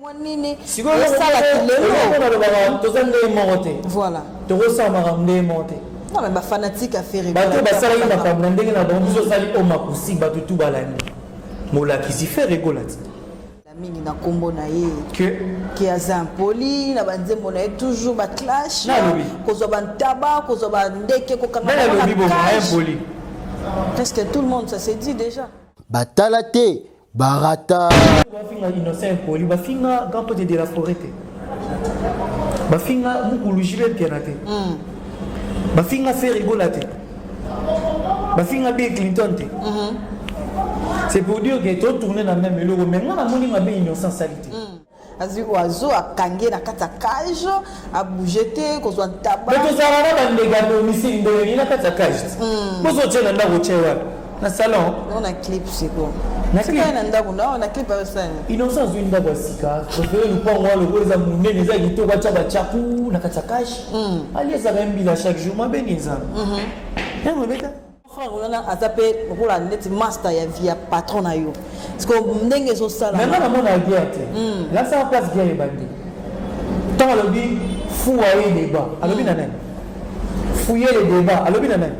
mwa nini Sikoyo eloko osala moko- eloko kilelo moko nalobaka toza ndenge moko te voilà tokosala makambo ndenge moko te non mais bafanatique ya ferre bato oyo basalaki makambo na ndenge na bango biso osali o makusi bato tu balandi molakisi fere ekolati La mingi na kombo na ye ke ke aza impoli na banzembo na ye toujours baclash Na lobi. kozwa bantaba kozwa bandeke kokanga nani bango na alobi bongo cage. impoli presque tout le monde ça se dit déjà batala te barata bafinga innocent impoli bafinga grand pote de la forêt te bafinga mukulu jibe mpiana te hmm. bafinga ferigola te bafinga bill clinton te hmm. c'est pour dire que totourne na même eloko mais nga namoni mabe innocent sali te hmm. azwi oyo azo akangi ye na kati ya cage abouge te kozwa ntaba mais tozalaka na bandege ya domicile ndenge nini na kati ya cage te hmm. bozotye na ndako tye wapi na salon o na clip siko natika na ndako na na clip asani innocent azwi ndako ya sika prefere lupango wana lokola eza monene eza kitoko atya batyaku na kati ya cage hmm. aliezaka mbila chaque jour mabe nini nzambe yango hmm. ebeta Frère wana aza pe lokola neti master ya vie ya patron na yo. Parce que ndenge ezo sala. Mais na mona guerre te. Hmm. La sa place guerre ebandi. Tant alobi fou aye débat. Alobi hmm. na nani? Fouiller le débat. Alobi na nani?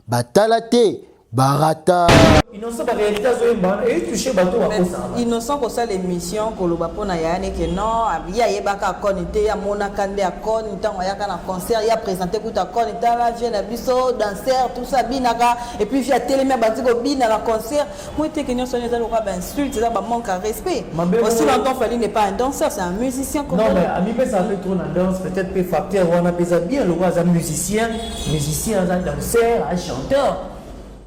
Batala te barata. Innocent ba réalité azo yemba wana et toucher bato ba kosa. Innocent ko sala émission ko loba pona ya ne que non ya yebaka akoni te ya mona kande akoni tango ayaka na concert ya présenter kuta akoni tala vie na biso danseur tout ça binaka et puis via telema bandi ko bina na concert moi te que nyonso eza lokola ba insulte eza ba manque à respect. Aussi longtemps Fally n'est pas un danseur c'est un musicien comme Non mais ami pesa un peu trop na danse peut-être pe facteur wana pesa bien lokola za musicien musicien za danseur un chanteur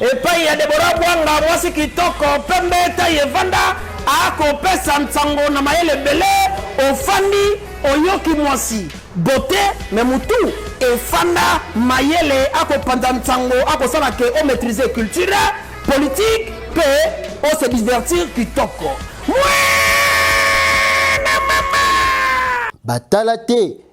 Epayi ya Deborah Bwanga, mwasi kitoko, pembe, taille evanda, akopesa nsango na mayele ebele. Ofandi oyoki mwasi bote me mutu efanda mayele, akopanza nsango, akosala ke o maîtriser culture politique mpe o se divertir kitoko. Mwana mama! Batala te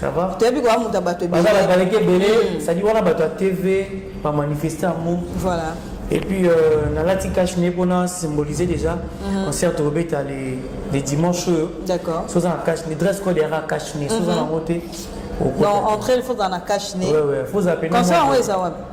Ça va Toyebi koya moto ya bato ebele. Baza babaleki ebele, hmm. c'est-à-dire wana bato ya TV ba manifester yango. Voilà. Et puis euh, nalati cash ne mpona symboliser déjà hmm. concert tokobeta les les dimanches oyo. D'accord. Soza na cash ne dress code yaka cash ne soza hmm. na yango te. Non, entrer il faut dans la cash ne. Ouais ouais, faut appeler. Concert yango eza wapi?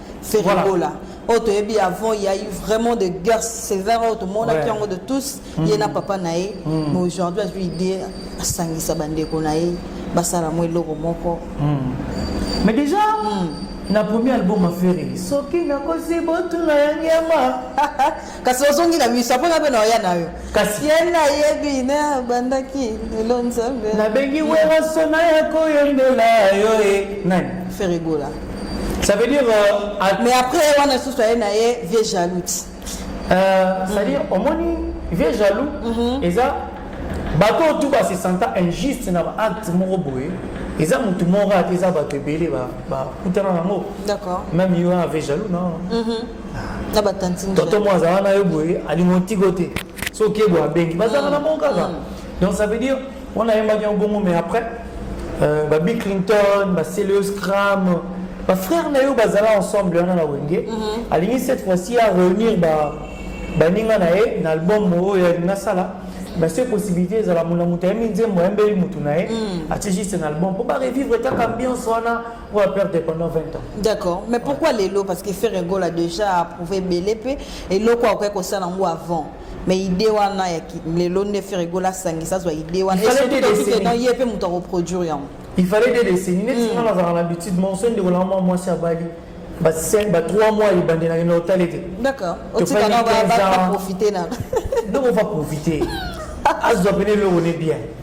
Ferre Gola. oyo toyebi avant il y a eu vraiment de guerre sévère oyo tomonaki yango de tous mm. ye na papa na ye mm. mais aujourd'hui azwi idée asangisa bandeko na ye basala mwa eloko moko mm. mais déjà na premier album aferi soki nakosi botuna ya nyama kasi ozongi na miso apona mpe na oya na yo kasi ye nayebi na abandaki lelo nzambe nabengi werasona ya koyembela yo e nani ferigola ça veut dire euh, à... mais après wana susu aye na ye vieux jaloux euh, c'est à dire omoni vieux jaloux mhm. eza bato oyo tu base santa injuste na baacte moko boye eza motu moko ata eza bato ebele bakutana na yango même yo ave jaloux na mhm. na ba tantine toto mo azala na yo boye alingo ntiko te so oke boye abengi bazala na bango kaka mm. donc ça veut dire on a ayembaki yango bongo mais après euh, ba bill clinton ba celios cram ba frère na yo bazala ensemble wana na wenge mm-hmm. alingi cette fois-ci a réunir ba baninga na ye na album oyo alingi asala mais ce possibilité ezala mona moto ayembi nzembo ayembeli motu na ye mm. atie juste na album mpo ba revivre kaka ambiance wana oyo aperdre pendant 20 ans d'accord mais pourquoi lelo parce que ferre gola déjà approuvé ebele mpe eloko akoki kosala yango avant mais idée wana ya lelo nde ferre gola asangisa azwa idée wana esokiokikeno ye mpe moto akoproduire yango il fallait des décennies neti nga nazalaka na habitude monso ndeko na mwa mwasi abali ba 5 ba 3 mois ebandi na kende otali te d'accord otika na ba profiter na donc on va profiter azwa pene eloko ne bien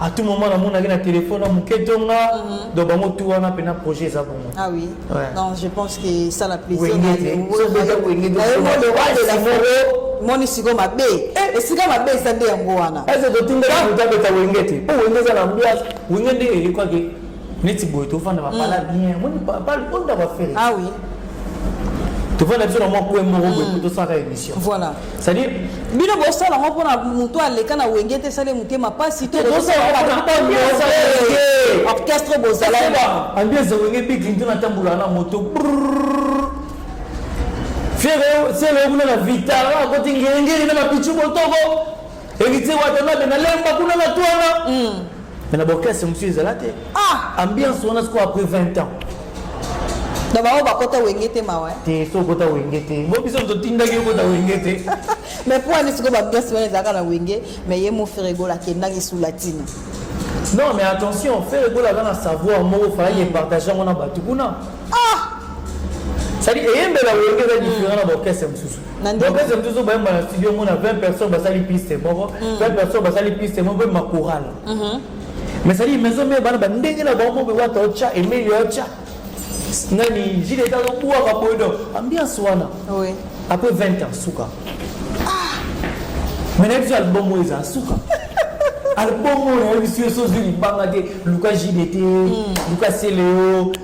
à tout moment namonaki na téléphone na moke tonga mhm. donc bango tu wana mpena projet eza bongo ah oui ouais. non je pense que esala plaisirmoni siko mabe eh. esika mabe eza nde yango wana ese totindelabeta wenge te mpo wenge eza na mbwa wenge nde elekwaki neti boye tofanda bapala mm. bien moni bapala onda bafere ah oui tofanda biso na mwa kue moko boye mm. tosalaka émission voilà c'est-à-dire bino bosala yango mpona motu aleka na wenge te esali motema mpasi te orchestre bozala ambiance ya wenge big linto natambulaka na moto fiere sele okuna na vitara akoti ngengeli na mapichu botoko Héritier Watanabe na lemba kuna na twana. Mm. Mais na orchestre monsieur ezala te. Ah, ambiance wana siko après 20 ans. Donc bango bakota wenge te mawa. Te so kota wenge te. Bo biso totindaki kota wenge te. Mais pour ani siko ba ambiance wana ezalaka na wenge, mais ye mo frère gola kendaki sous latine. Non mais attention, frère gola kana savoir mo fallait mm. partager ngona batukuna. Ah! C'est-à-dire eyembela wenge eza différent na orchestre mosusu. na ndenge bopesa toujours bayemba na studio mona 20 personnes basali piste moko 20 mm. personnes basali piste moko mpe makoral mm-hmm. mais sali maison mare bana bandenge na bango mobe wata otya emeli otya nani jile eza kobwaka boye donc ambiance wana après 20 ans suka ah! mais na biso album oyo eza suka album oyo nayebisi yo sozi libanga te luka jile te mm. luka seleo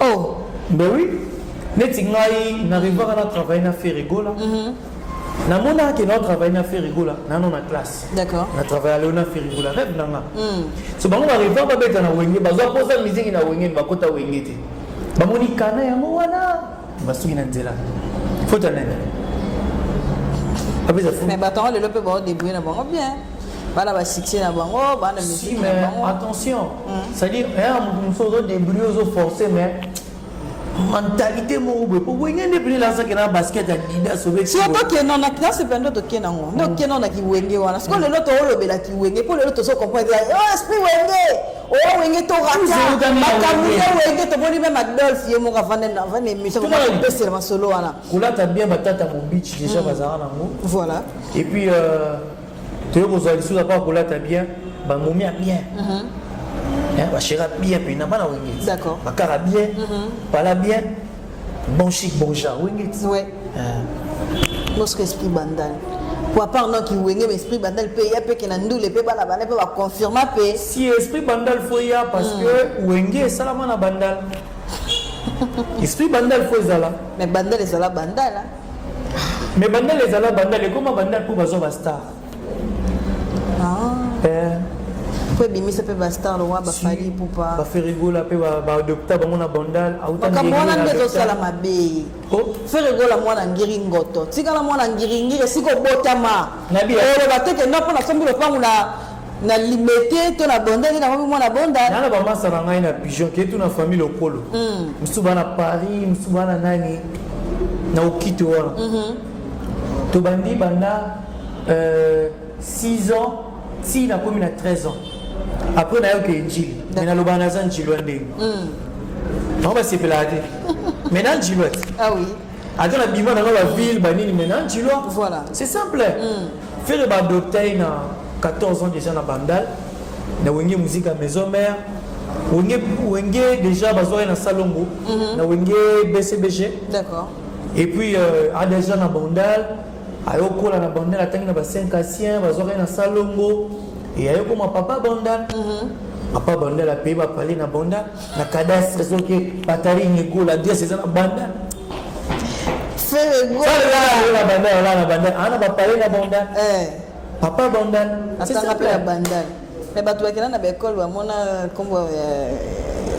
Oh. Ben oui. Neti ngai n'arrivaka na travailler na Ferregola. Mm -hmm. namonaka ke nao travaille na ferigola nano na classe na travaille aleo na ferigola reve na nga hmm. so bango bareva babeta na wenge bazwa mposa miziki na wenge bakota wenge te bamoni kana yango wana basuki na nzela fota nani apesa fu mais batongo lelo mpe baodebrouye na bango bien bana ba succès na bango bana musique na bango attention mm. c'est à dire ya eh, mutu mususu ozo débrouille ozo forcer mais mentalité moko boye po wenge nde pene lazaki na basket ya didas obetokenda na classe mpe ndo tokenda yango nde okenda na kiwenge wana sikoyo lelo toolobela kiwenge mpo lelo tozo comprendre oh, esprit wenge oyo oh, wenge toratamakambo ya wenge tomoni meme adolf ye moko avanda émission kopesela masolo wana kolata bien batata mobici déjà mm. bazala nango voilà et puis euh, toye kozwa lisusu apa kolata bien bamomia bien mhm. eh, bashera bien mpena bana wengeti bakara bien pala mhm. bien bon chic bon genre wengeti mosque eh. esprit bandal po apart noki wenge ma esprit bandal mpe ya mpeke na ndule mpe bana bana mpe baconfirma mpe si esprit bandal fo ya parce mm. que wenge esalama na bandal esprit bandal fo ezala mais bandal ezala bandala mais bandal ezala bandal ekoma bandal mpo bazwa bastar ah. eh. mpo ebimisa mpe bastar lowa bafali pupa baferigola mpe baadopta bango na bandal makambo wana nde ezosala mabe oh. ferigola mwana ngiri ngoto tikala mwana ngiringiri esika obotama oloba te kenda mpo nasombi lopango na na limete to na bonda nde nakomi mwana bonda nana bamasa na ngai na pigeon ke tu na famille lokolo mm. mosusu baa na paris mosusu baa na nani na okito wana mm -hmm. tobandi banda euh, 6 ans ti nakomi na 13 ans après nayoka enjili me naloba naza njilwa ndenge mm. bango basepelaka te me na njilwa te ah, oui. ata na bima nanga ba ville ba nini maintenant ntilo voilà c'est simple mm. fere ba adopta ye na 14 ans déjà na bandal na wenge muzika maison mère wenge wenge déjà bazwaki na salongo mm -hmm. na wenge bcbg d'accord et puis euh, a déjà na bandal ayokola na bandal atangi na ba 5 asien bazwaki na salongo e ayokoma papa bandal mm -hmm. papa bandal apaye bapale na bandal na cadastre soki batari nyekola adresse eza na banda na banda ana bapale na banda papa banda atanga mpe na banda me bato bakenda na baekole bamona nkombo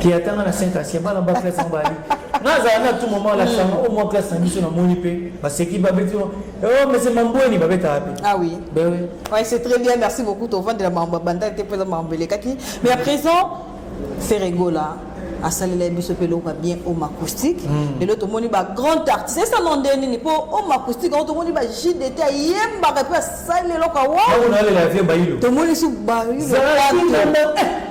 ke atanga na saint asie bana ba classe yango bali nazala na tout moment la chama au moins classe na biso namoni mpe baseki babeti o oh, mese mambweni babetaka mpe ah oui ben oui ouais, c'est très bien merci beaucoup tovandela mambo ya bandaki te mpo eza mambo elekaki mais à présent Ferre Gola asalela biso mpe eloko ya bien home acoustique hmm. lelo tomoni ba grand artiste esala nde nini mpo home acoustique yango tomoni ba jdt ayembaka mpe asali eloko awaomonisi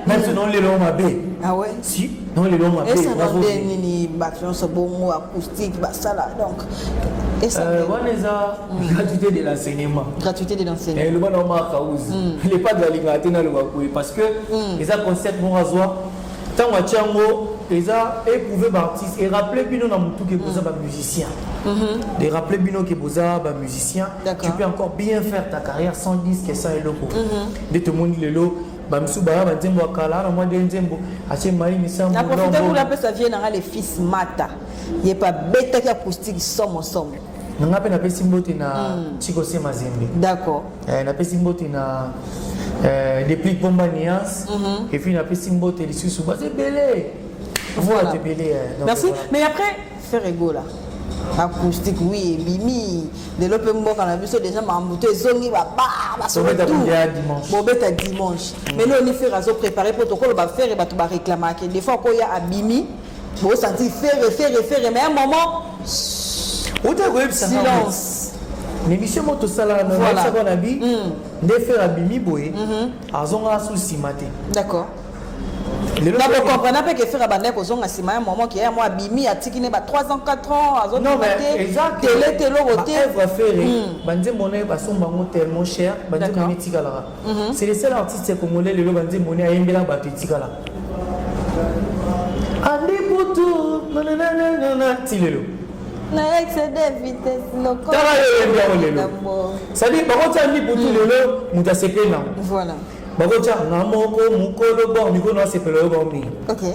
bailolelo mabe awe si nolelo mabe esala nde nini bato nyonso bongo acoustique basala donc euh, wana eza gratuité de l'enseignement gratuité de l'enseignement eloba na omaka uzi hmm. le padre alingaka te naloba koye parce que hmm. eza concept moko azwa ntango atya yango eza éprouve baartiste erappele bino na motu ke boza hmm. bamusicien mhm. de rappeler bino ke boza bamusicien tu peux encore bien faire ta carrière sans disque sans eloko mhm. nde tomoni lelo bamisu baya banzembo ya kala na mwa nde nzembo atie mai misambonaprofite kuna apesa vie nanga le fils mata ye pa betaki acoustique somo somo nanga mpe napesi mbote na hmm. chiko se mazembe d'accord eh, napesi mbote na eh, deplic bomba nuance mm -hmm. epuis napesi mbote lisusu baza ebele voilà. ebele eh, merci voilà. mais après faire egola acoustique oui ebimi lelo mpe mboka na biso déjà makambo to ezongi bababobeta dimanche mais leo ni fere azo préparé mpo tokoloba fere bato bareklamaka des fois koya abimi Bo santi ferre ferre ferre mais un moment Ota ko yebisa silence. Mais monsieur moto sala na voilà. sa bona bi mm. nde ferre abimi boye mm -hmm. azonga sous simate. D'accord. nakokomprena mpe ke fere abandaki kozonga nsima ya momo ke ya mwa abimi atiki ne ba 3 ans 4 ans azobima te tele te eloko te evre fere banzembo na ye basomba yango tellement cher banzembo na ye etikalaka Mhm. C'est le seul artiste congolais lelo banzi moni ayembela bato etikala. Andi butu nananana ti lelo. Na excédé vitesse loko. Tala yembi yango lelo. C'est-à-dire bakoti andi butu mhm. lelo moto asepeli nango. Voilà. Bakoti anga moko mokolo bor mikolo na asepela yo bango mingi. Okay.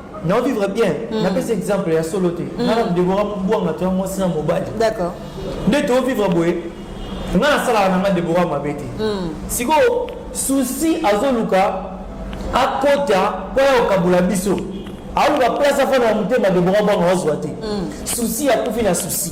na vivre bien mm. napesa exemple ya solo te mm. nana debora bwanga toya mwasi na mobali d'accord nde tovivre boye nga nasalaka na nga debora mabe te mm. sikoyo susi azoluka akota mpo ya kokabola biso aoluka place afanda na motema debora bwanga azwa te susi akufi na susi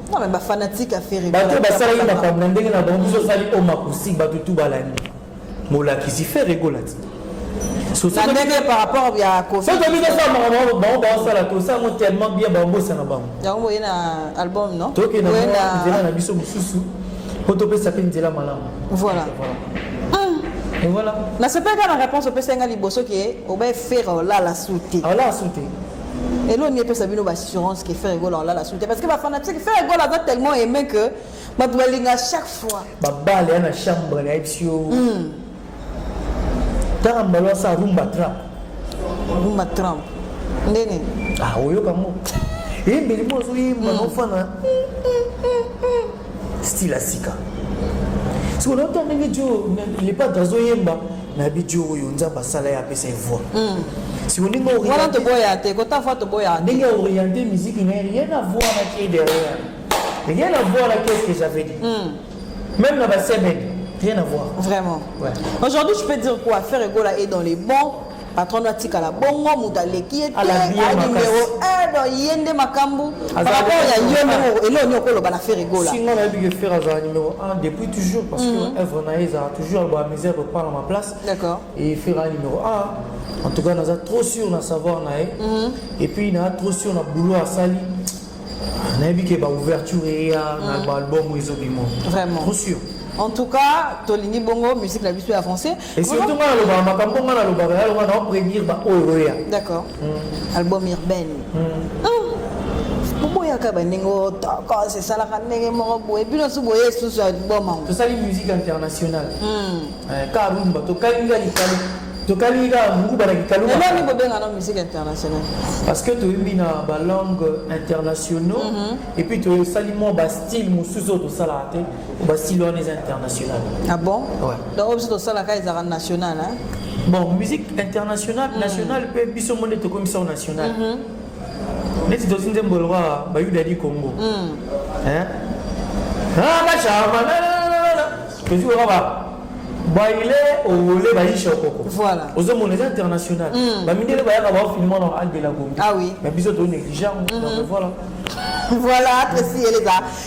Non, mais ba fanatique ya Ferre. Bato oyo basalaki makambo na ndenge na bango biso osali o makusi bato tu balandi molakisi Ferre Gola ti Na ndenge par rapport ya Koffi. soki tobi tosala makambo yango bango baosala tosala yango tellement bien babosana bango Yango boye na album non? tokenda Boye mwa na- nzela na biso mosusu mpo topesa mpe nzela malamu Voilà. Et voilà nasepelaka na réponse opesaki ngai liboso ke obaye fere olala su te awala asu te elo ni epesa bino baassurance ke ferre gola olala sute parce que bafanatique ferre gola aza tellement aimé que bato balinga chaque fois babale ya na chambre na yebisi yo hmm. tanga mbala asa rumba trap rumba trump nde nini ah, oyoka ngo yembeli mo ozoyemba nofana hmm. style ya sika sikoyo nayota ndenge jo lepat azoyemba nayebi jo oyo nzambe asala ye apesa ye voi hmm. siko ndenge wana toboya te kota voi toboya ndenge oriente miziki na ye rien à voir na kie derrière rien à voir na qu'est-ce que j'avais dit hmm. même na basebene rien à voir vraiment ouais. aujourd'hui je peux dire quoi faire egola est dans les bons patron no atikala bongo moto aleki ye te aye numero 1 do ye nde makambo paraport ya yo ndenge eloo nini okoloba na fere gola singa nayebi ke fere azala numero 1 depuis toujours parce que mhm. œuvre na ye ezala toujours aloba misère reprendre ma place d'accord et fere aza numero 1 en tout cas naza trop sûr na savoir na ye mhm. et puis naza trop sûr na boulot asali nayebi ke baouverture eya na mhm. baalbum ezobima vraiment trop sûr en tout cas tolingi bongo musique na biso ya français Et surtout nga nalobaka makambo nga nalobaka yalo nga nao prédire ba oyo oya d'accord mm. album urbaine mm. ah. boboyaka bandenge otokos esalaka ndenge moko boye bino su boye esusu album yango tosali musique internationale mm. eh, karumba tokalinga likalo tokalingi kaka nguba na kikalunani bobenga na musique internationale parce que toyebi na balangue internationaux mm -hmm. et puis tosali mwa bastyle mosusu oyo tosalaka te ba style wana eza international ah bon ouais. donc oyo biso tosalaka ezalaka national hein? bon musique internationale mm. nationale mpe biso mone tokomisa o national mm -hmm. neti tosi nzembo lokola bayuda di congo mm. hein? ah, bashama tosi koyoka ba baile owole bayisha okoko voilà ozomona eza international mm. bamindele bayaka baofilma na alde la congo ah, oui. mais biso toonéglige yango mm -hmm. donc voilà voilà apesi eleza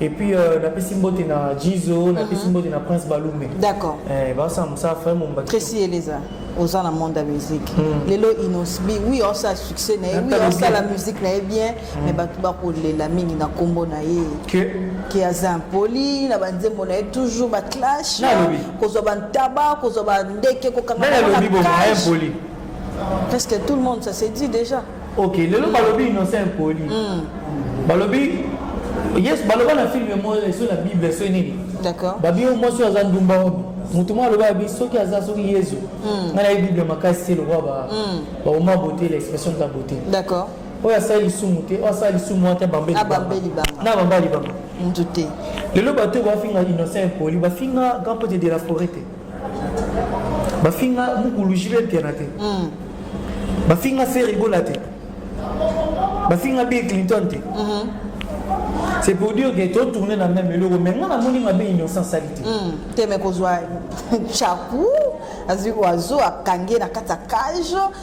Et puis euh, la pesi mbote na Jizo, la pesi mhm. mbote na Prince Balumbe. D'accord. Eh ba ça ça frère mon baki. Tracy Eleza oza na monde ya musique mm. lelo inosbi oui osala succès na ye oui osala musique na ye bien mm. mais bato bakolela mingi na nkombo na ye ke aza impoli na banzembo na ye toujours baclash kozwa bantaba kozwa bandeke kokanga presque tout le monde ça se dit déjà ok lelo balobi innocent impoli mm. balobi yes baloba na filme moko eso na bible eso nini babi oyo mwasi oyo aza ndumba oyo motu moko aloba yabi soki aza soki yezu mm. ngai nayebi bible makasi te lokola mm. baoma bote la expression de la beauté d'accord oyo asala lisumu te oyo asala lisumu wana te bambe na bamba libanga motu te lelo bato oyo bafinga innocent impoli bafinga grand pote de la forêt te bafinga mukulu jibel piana te mm. bafinga ferigola te bafinga bill clinton te mm-hmm. c'est pour dire que totourne na même eloko mais nga namoni mabe innocent sali te mm. te me kozwa chaku azwi oiseau akangi ye na kati ya cage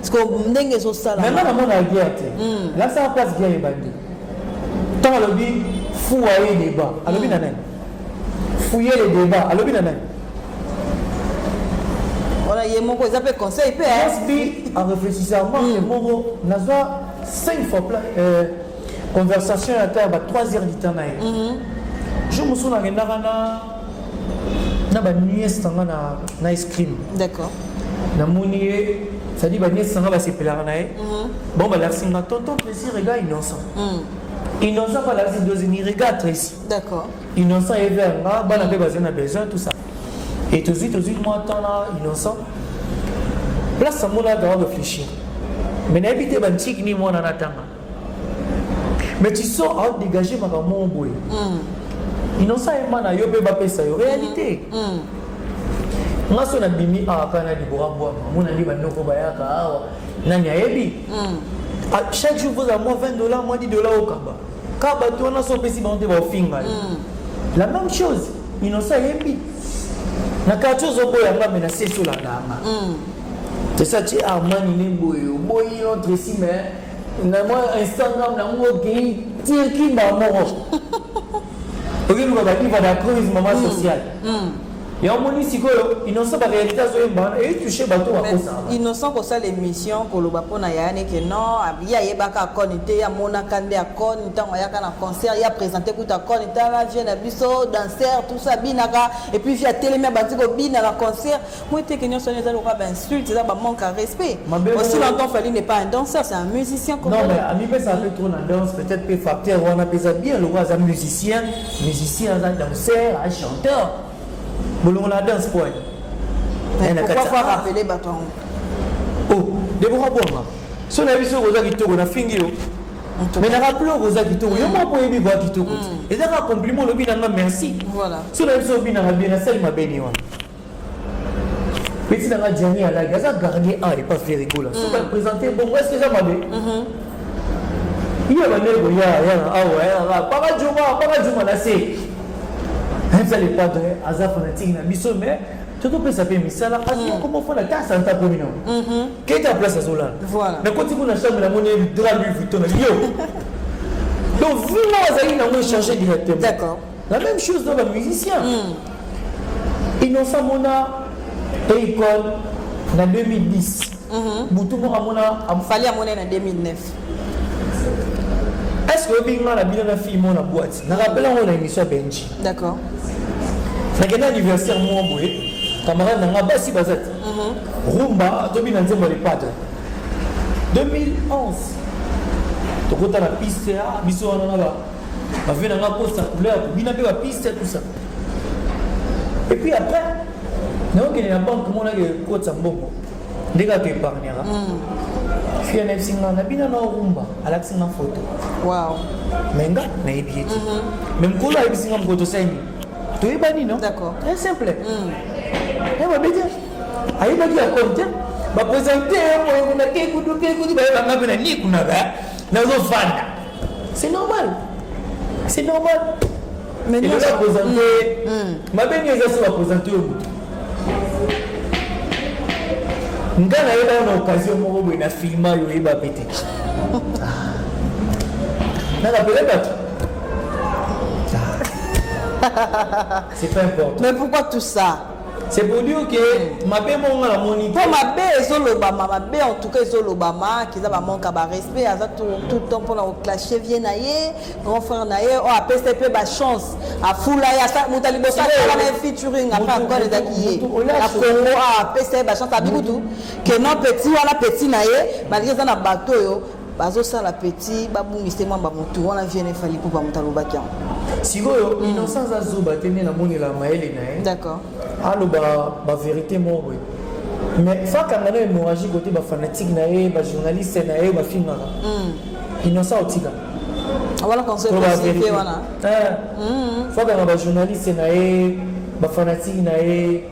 sikoyo ndenge ezosala mema na mona guerre te lakisaka place guerre ebandi ntango alobi fuwa ye débat alobi na nani fuye le débat alobi na nani wana ye moko eza mpe conseil mpe asbi en réfléchissant marke moko nazwa 5 fois euh, conversation ya ta ya ba 3 heures du temps na ye jour mosusu nakendaka na na ba nièce na nga na na ice cream d'accord namoni ye c'est-à-dire ba nièce na nga basepelaka na ye mhm. bon balakisi nga tonton plaisir ega innocent mhm. innocent mpe alakisi dosini regarde tracy d'accord innocent ye vers nga bana mpe bazali na besoin tout ça et tozwi tozwi mwa temps na innocent place yango na aza réfléchir mais nayebi te bantiki nini mwana natanga mais tu sors à dégager makambo moko boye mm. innocent ema na yo mpe bapesa yo réalité mm. mm. nga so nabimi awa kaka na libora bwama mona nde bandoko bayaka awa nani ayebi mm. ah, chaque jour voza mwa 20 dollar mwa 10 dollar okaba kaka bato wana so opesi bango te baofinga yo mm. la même chose innocent ayebi na quartier ozoboya nga me na sesi olandanga mm. c'est ça tu es armani ne boye oboyi notre si mais na mwa instagram na ngo okei tirki mbala moko okiluka badiva na crise mama mm. sociale mm. ya omoni sikoyo innocent barealité azoyemba wana eyitouche bato bakosaka innocent kosala émission koloba mpo na yayane ke non ye ayebaka akoni te amonaka nde akoni ntango ayaka na concert ye apresente kuta akoni tala vie na biso danser tout ça abinaka epuis vie atelemi abandi kobina na concert Moi eteke nyonso wana eza lokola bainsulte eza bamanque à respect aussi longtemps fali n'est pas un danseur c'est un musicien non mais amipesa mpe trop na danse peut-être mpe facteur wana mpe eza bien lokola aza musicien musicien aza danseur a chanteur bolongo na danse po pourquoi faut rappeler bato yango oh debora bwanga so nayebi soki oza kitoko nafingi yo mais na rappele oko oza kitoko yo moko oyebi boya kitoko mm. eza kaka compliment olobi nanga merci so nayebi soki obinaka bien nasali mabeni wana peti nanga diani alaki aza gardien a epa ferigola soki apresente bongo eske eza mabe iya bandele koya yana awa yana paka juma paka juma na se aza le padre aza fanatike na biso mais tokopesa mpe misala azokoma fona ta santa komi nango keta place azolala nakoti kuna chambre namoni dra lui vuitton na yo donc vino azali nango echange directement La même chose dans ba musiciens. Mm. Innocent Mona Akon na 2010. Mm -hmm. Butu moko amona am... Fally amona na 2009. Est-ce que oyebi nga na bino na fille mona boîte? Na rappelle yango na émission Benji. D'accord. Nakenda anniversaire moko boye, camarade na nga basi baza te. Mm -hmm. Rumba tobi na nzembo le padre. 2011 tokota na piste ya biso wana na ba ba vie na nga ko sa couleur ko bina pe ba piste tout ça et puis après na yo kende na banque mona ke ko tsa mbongo ndenge ato épargnera fille na yebisi nga na bina na rumba alakisi nga photo wow mais nga nayebi ye te mais mokolo ayebisi nga mokolo tosali nini toyebani no d'accord très simple eh babe te ayebaki ya compte bapresente ye moyo kuna kekudu kekudu bayebanga mpe na ni kuna ba nazofanda c'est normal c'est normal elola présente mabe nini eza soki baprésente yo moto nga nayeba na occasion moko boye na filma yo oyeba mpe te nakapele bato c'est pas important mais pourquoi tout ça C'est pour dire que mabe moko nga namoni mpo mabe ezolobama mabe en tout cas ezolobama kiza bamanque ya barespect aza tout temps mpona koclashe vie na ye grand frère na ye oyo apesa mpe bachance afula ye moto ya liboso asala na ye featuring apres akole ezalaki ye na congo apesa ye bachance abi kutu ke non petit wana petit na ye malgré eza na bato oyo bazosala petit babungisa te mwamba motu wana vie ne fali pupa moto alobaki yango sikoyo mm. innocent aza zuba te nde namonela mayele na ye d'accord aloba baverité moko boye mais fakanga na hémorragie kote bafanatike na ye bajournaliste na ye bafingaka mm. innocent otika wana conseil positive wana eh. mm. fakanga bajournaliste na ye bafanatike na ye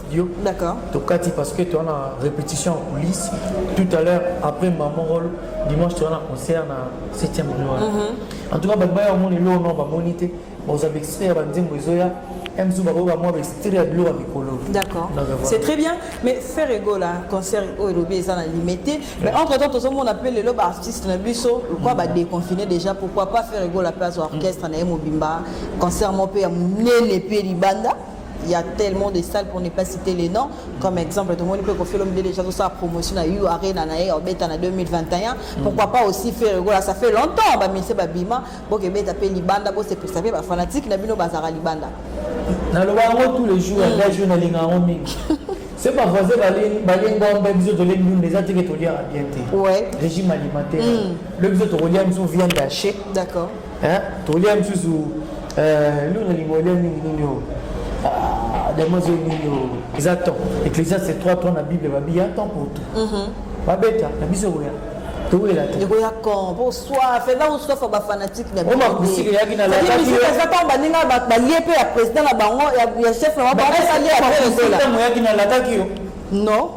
studio. D'accord. Tokati parce que tu as la répétition en coulisses. Tout à l'heure, après ma rôle, dimanche, tu as un concert dans 7e boulevard. Mm -hmm. En tout cas, je vais vous dire, non, je vais vous dire, je vais vous dire, je vais mzu bakoyoka mwa baestire ya biloko ya mikolo d'accord c'est très bien mais faire ego la concert oyo oh, elobi eza na limite mais entre temps tozomona mpe lelo baartiste na biso lokwa badeconfine déjà pourquoi pas faire ego la mpe azwa orchestre na ye mobimba concert moko mpe ya monene mpe libanda il y a tellement de salles pour ne pas citer les noms comme exemple tout le monde peut confier l'homme déjà tout ça promotion à U Arena na en beta na 2021 mm. pourquoi pas aussi faire voilà ça fait longtemps ba monsieur babima bon que beta pe libanda bon c'est pour ça ba fanatique na bino bazara libanda na le bango tous les jours mm. la journée na linga en mingi c'est pas voisin balenga ombe biso tolengi nini eza teke toliaka bien te régime alimentaire mm. le biso tokolia biso viande hachée d'accord eh, tolia mosusu eh, luna lingo olia mingi nini oyo ah, damazo nini oyo eza temps ecclésiaste 3 3 na bible babi ya temps pour tout mhm. babeta na biso koya towela te ekoya kon po soif eza kosoifa bafanatique na bisomakusika eyaki na eza ntango baninga balie mpe ya président na bango ya chef na bango balie ya président oyaki na lataki yo non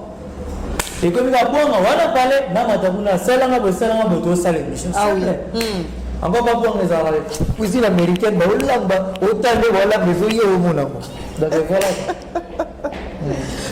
ekomi nga bwanga wana pale namata kuna asalanga boye salanga boye tosala émission ah hmm. ango babwanga ezalaka le cuisine américaine baolamba otande baolamba ezoye omonango donc voilà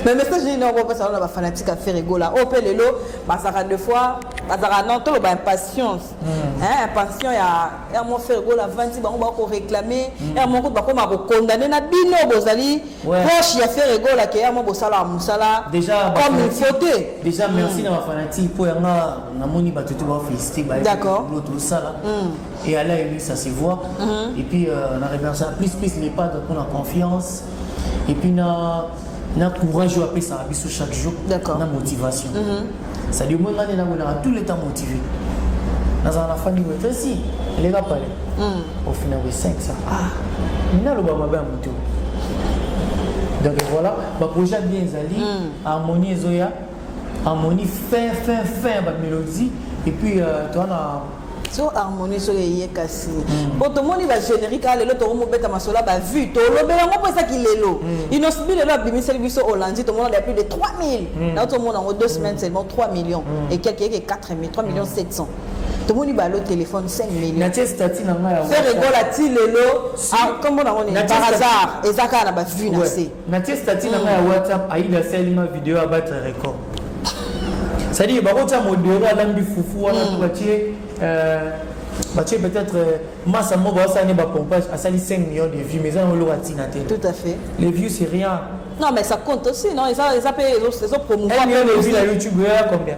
mais message nini yango opesa wana bafanatique ya ferregola oyo mpe lelo bazalaka de fois bazalaka non toloba impatience Hmm. Eh, passion ya ya mon frère gola vandi bango ba ko réclamer hmm. ya mon ko ba ko ma ko condamner na bino bozali proche ya frère gola ke ya mo bosala musala déjà comme il faut te déjà hmm. merci na ba fanatique po ya nga na moni ba tutu ba féliciter ba d'accord l'autre sala et à la ça se voit et puis euh, on a remercié plus plus les pas de pour la confiance et puis na na courage oyo apesaka biso chaque jour na motivation cestadi omoi ngani namonaka tout le temps motivé nazala na fandi boye pesi eleka pale ofina boye 5 sa mina aloba mabe ya moto donc voilà baprojet bien ezali hmm. harmonie ezoya harmonie fin fin fin ya bamélodie et puis euh, toana so harmonie soki eye kasi hmm. po tomoni bagénérique a lelo tokomobeta masolo ya bavue tolobela yango mpo eza kilelo hmm. inosbi lelo abimiseli biso olandi tomona ya plus de 3000 hmm. nao tomona yango deux semaines seulement 3 millions et quelque eke 4000 3 millions 700 tomoni balo téléphone 5 millionferegola ti lelo nkombo nango nini par hasard eza kaka na bavue na se natie stati na ngai ya whatsapp aida asali ma video ya battre record cestadire bakotya modero alambi fufu wana to batie batie peut-être euh, masa moko baosala ne bapompage asali 5 millions de vues mais eza na oloko atina te tout à fait les vues c'est rien non mais ça compte aussi non eza mpe ezopromouvoir million de vues na youtube oya combien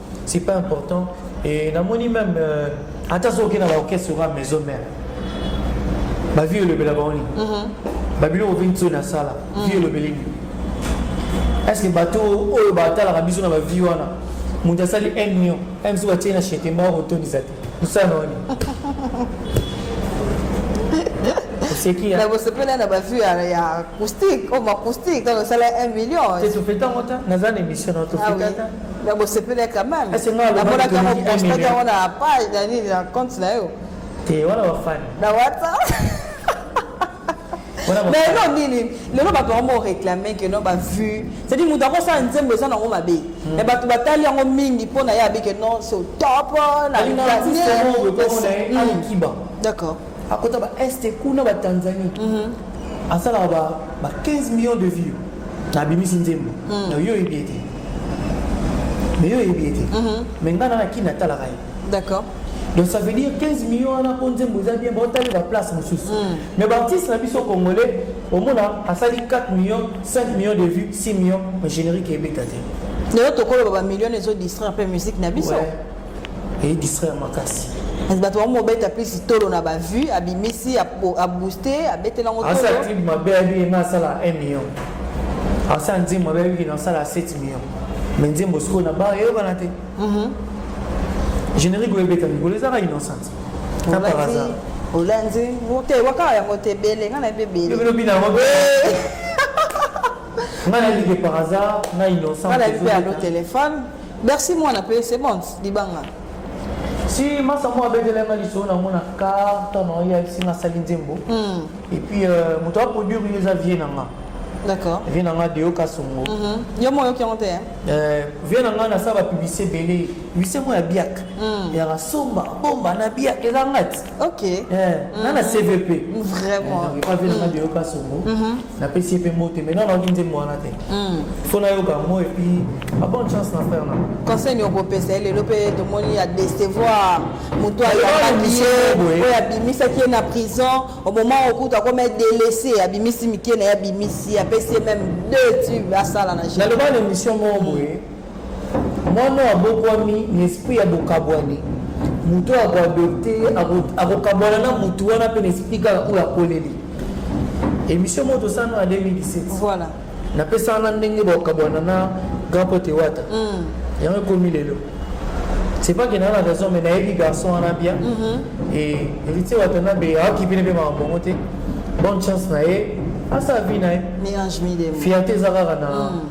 c'est pas important et namoni même euh, ata soki na baorchestre oka maison mère bavi elobela bango nini mhm. babiloko mpe nso nasala mhm. vi elobeli nini estce bato oyo batalaka biso na bavi wana moto asali 1 million aya mosusu batie na chetema okotondisa te mosala na wani oseki bosepela na bavue ya acoustique oyo oh, acoustique ntango osala 1 million te tofetango ta naza na émission na tofetata ah na bosepele quand même Ese nga alobaki namonaka yango toleki un postaki million. yango na page na nini na compte na yo te wana bafani na whatsapp wana mais bafani elo nini lelo bato yango moreclame ke no bavue cetadi moto akosala nzembo eza nango mabe mais bato batali yango mingi mpo na ye abike non so top na alinga artiste yango boye komona ye alikiba d'accord akota ba est kuna ba tanzanie mm -hmm. asalaka ba, ba 15 millions de vues na abimisi nzembo mm. na yo oyebi ye te mais yo oyebi ye te mm -hmm. mais ngai nana kini atalaka ye d'accord donc ça veut dire 15 millions wana mpo nzembo eza bien baotali baplace mosusu mm. mais baartiste na biso congolais omona asali 4 millions 5 millions de vues 6 millions mais générique ebeta te lelo tokoloba bamillion ezodistraire mpe musique na biso ouais. Et distraire makasi. kasi bato bango mobeta plus tolo na bavue abimisi abooste abetela yango asa ntingi mabe ayebi ye nga asala 1 million asa nzembo mabe ayebi kina asala 7 million me nzembo sikoyo na bar eyokana te mhm. générique oyo ebeta mikolo ezaka innocent na par hasard olanzi te wakaka yango te ebele nga na yebi ebeleelobi na yango nga na yebi ke par hasard na innocent nga na yebi mpe alo telefone Bercy mwana pe c'est bon libanga. Si masa mwa abetela nga lisolo na mona carte na ya si nga sali nzembo. Mm. Et puis euh, moto a produire yo eza vie na nga. D'accord. Vie na nga de yo kasongo. Mm -hmm. Yo moyo ki onte hein. Euh, vie na nga na sa ba publicité belé. Publicité mo ya biak. Mm. Ya rasomba bomba na biak eza ngati. ok eh, mm-hmm. na na cvp vraiment eh, pavi nanga deyoka mm. songo mm-hmm. napesi ye mpe mbote mai nana oki nzembo wana te mm. fo nayoka yango epuis a bonne chance na frère nanga conseil nini okopesa ye lelo mpe tomoni ya decevoir motu ayambaki ye oyo abimisaki ye na prison au moment okutu akoma delese abimisi mike na ye abimisi apesi ye meme deux tube asala na naloba na émission moko boye Mwana oyo abokwami na esprit ya bokabwani, moto oyo akoadopte ye akokabwana na motu wana mpe na esprit kaka oyo akoleli. Emission moko tosala na 2017 voilà. napesaka na ndenge bakabwana na grand pote wata mm. yango ekomi lelo c'est pas que naa na raison mais nayebi garçon wana bien mm -hmm. et héritier wata na be aokipi ne mpe makambo yango te bonne chance na ye asa vie na ye fierté eza kaka na mm.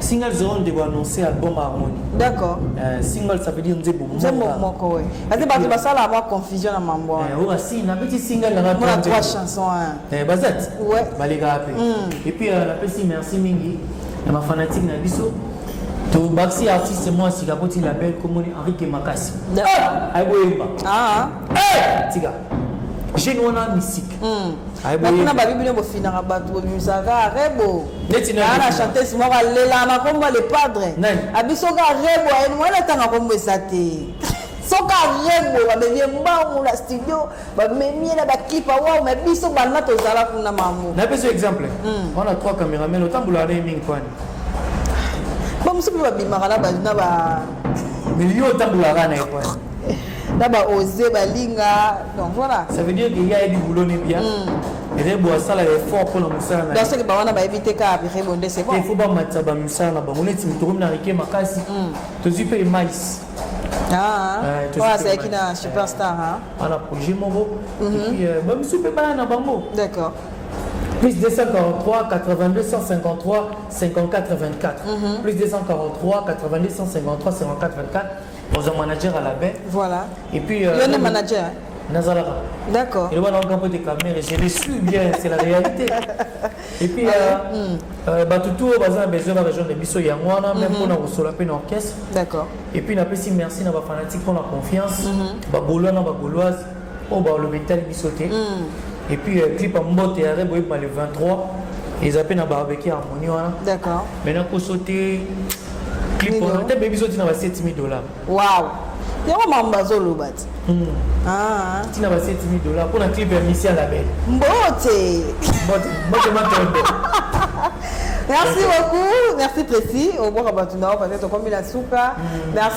Single zero ndeko annonce album harmonie. D'accord. Euh, single ça veut dire nzembo moko. Nzembo moko oui. Ate bato basala ba confusion na mambo. Eh oba si na petit single na ba trois, trois chansons. Hein. Eh bazat. Ouais. Baleka pe. Mm. Et puis euh, la petit merci mingi na ba fanatique na biso. To baxi artiste moi sika koti label komoni Henri Kemakasi. Ah, ayi boyeba. Ah. Eh, tika. jeune wana misika kuna babi bino bofinaka bato bobimisaka rebo ana chantese moko alela na kombo le padre abisoka rebo ayeni mwana etanga kombo eza te soki arebo bamemi ye mbangu na studio bamemi ye na baclip awau ma biso bana tozala kuna mamu na biso exemple hmm. wana trois cameramen otambolaka na ye mingi kwani bamosusu mpe babimaka na ba mais yo otambolaka na ye kwani na ba ose balinga donc voilà ça veut dire que ya yebi boulot ne bien mm. rebo asala effort mpo na mosala na soki bawana bayebi te kaka rebo nde c'est bon il faut bamatisa bamisala na bango neti moto okomi na rike makasi mm. tozwi mpe emais ah, eh, oyo azalaki na superstar wana projet moko mhm. euh, bamisu mpe baya na bango d'accord plus 243 82 153 54 24 plus 243 82 153 54 24 oza manager ya label voilà et puis euh, yo nde manager nazalaka d'accord eloba na okampo te kamere je le suis bien c'est la réalité et puis ah hmm. euh, bato tout oyo baza na besoin na région de biso yango wana même mpona mhm. kosola mpe na orchestre d'accord et puis napesi merci na bafanatique mpo na confiance mhm. bagolois na bagoloise oyo balobi etali biso te hmm. et puis euh, clip ya mbote ya rebo ebima le 23 eza mpe na barbecue harmonie wana d'accord mais nakoso te clip wana te bebi zoti na ba 7000 dollars waw yango mambo bazoloba ti hmm. ah. ntina ba 7000 dollars mpo na clip ya misia label mbote mbote mbote matondo merci beaucoup merci précis obwaka bato na yo peut-être okomi na suka hmm. merci